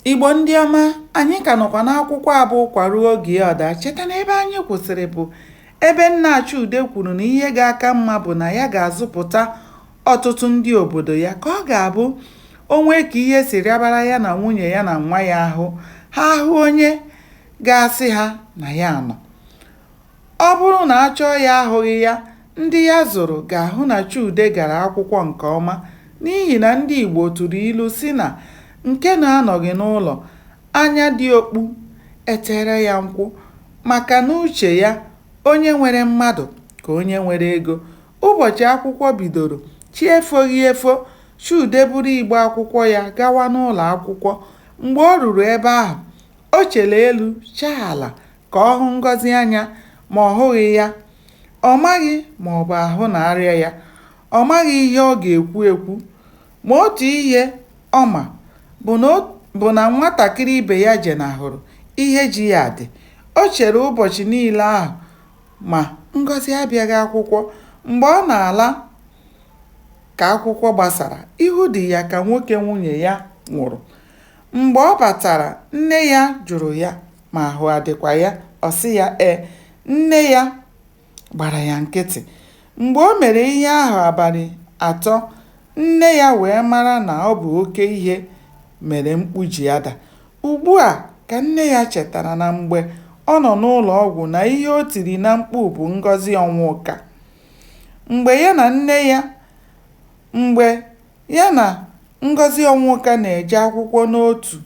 Igbo ndị ọma, anyị ka nọkwa n'akwụkwọ abụ ụkwa ruo oge ya ọ daa. Cheta na ebe anyị kwụsịrị bụ ebe nna Chude kwuru na ihe ga-aka mma bụ na ya ga-azụpụta ọtụtụ ndị obodo ya ka ọ ga-abụ o nwee ka ihe si rịabara ya na nwunye ya na nwa ya ahụ ha ahụ onye ga-asị ha na ya nọ Ọ bụrụ na a chọọ ya ahụghị ya, ndị ya zụrụ ga-ahụ na Chude gara akwụkwọ nke ọma n'ihi na ndị Igbo tụrụ ilu sị na nke na-anọghị n'ụlọ anya dị okpu e teere ya nkwụ maka n'uche ya, onye nwere mmadụ ka onye nwere ego. Ụbọchị akwụkwọ bidoro, chi efoghị efo, Chude buru igbe akwụkwọ ya gawa n'ụlọ akwụkwọ. Mgbe o ruru ebe ahụ, o chere elu chaa ala ka ọ hụ Ngọzi anya ma ọ hụghị ya. Ọ maghị ma ọ bụ ahụ na-arịa ya. Ọ maghị ihe ọ ga-ekwu ekwu. Ma otu ihe ọ ma bụ na nwatakịrị ibe ya jenahụrụ ihe ji ya dị. O chere ụbọchị niile ahụ ma Ngọzi abịaghị akwụkwọ. Mgbe ọ na-ala ka akwụkwọ gbasara, ihu dị ya ka nwoke nwunye ya nwụrụ. Mgbe ọ batara, nne ya jụrụ ya ma ahụ adịkwa ya, ọ sị ya ee. Nne ya gbara ya nkịtị. Mgbe o mere ihe ahụ abalị atọ, nne ya wee mara na ọ bụ oke ihe mere mkpu ji ada. Ugbu a ka nne ya chetara na mgbe ọ nọ n'ụlọ ọgwụ na ihe o tiri na mkpu bụ Ngọzi Ọnwụka. Mgbe ya na nne ya mgbe ya na Ngọzi Ọnwụka na-eje akwụkwọ n'otu,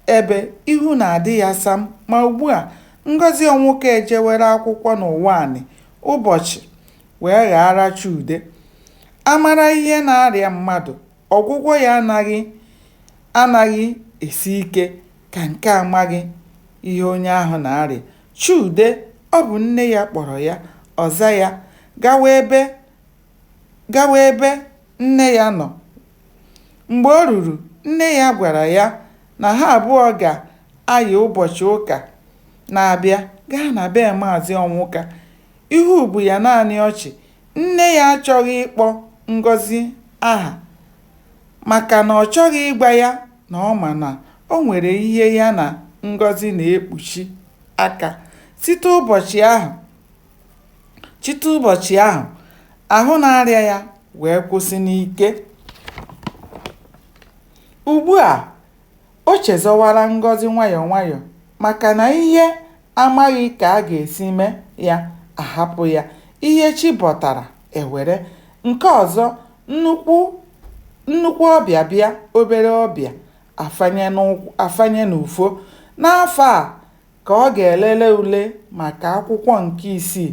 Ebe ihu na-adị ya sam, ma ugbu a, Ngọzi Ọnwụka ejewere akwụkwọ n'Ụwanị ụbọchị wee ghaara Chude. A mara ihe na-arịa mmadụ, ọgwụgwọ ya anaghị esi ike ka nke a maghị ihe onye ahụ na-arịa. Chude, ọ bụ nne ya kpọrọ ya, ọ za ya, gawa ebe gawa ebe nne ya nọ. Mgbe o ruru, nne ya gwara ya na ha abụọ ga-ayị ụbọchị ụka na-abịa gaa na be Maazị Ọnwụka. Ihu bụ ya naanị ọchị. Nne ya achọghị ịkpọ Ngọzi aha maka na ọ chọghị ịgwa ya na ọ ma na o nwere ihe ya na Ngọzi na-ekpuchi aka. Site ụbọchị ahụ, Site ụbọchị ahụ, ahụ na-arịa ya wee kwụsị n'ike. Ugbu a, o chezọwara Ngọzi nwayọọ nwayọọ maka na ihe a maghị ka a ga-esi mee ya a hapụ ya. Ihe chi bọtara e were. Nke ọzọ, nnukwu ọbịa bịa, obere ọbịa afanye n'ụkwụ afanye n'ufo. N'afọ a ka ọ ga-elele ule maka akwụkwọ nke isii.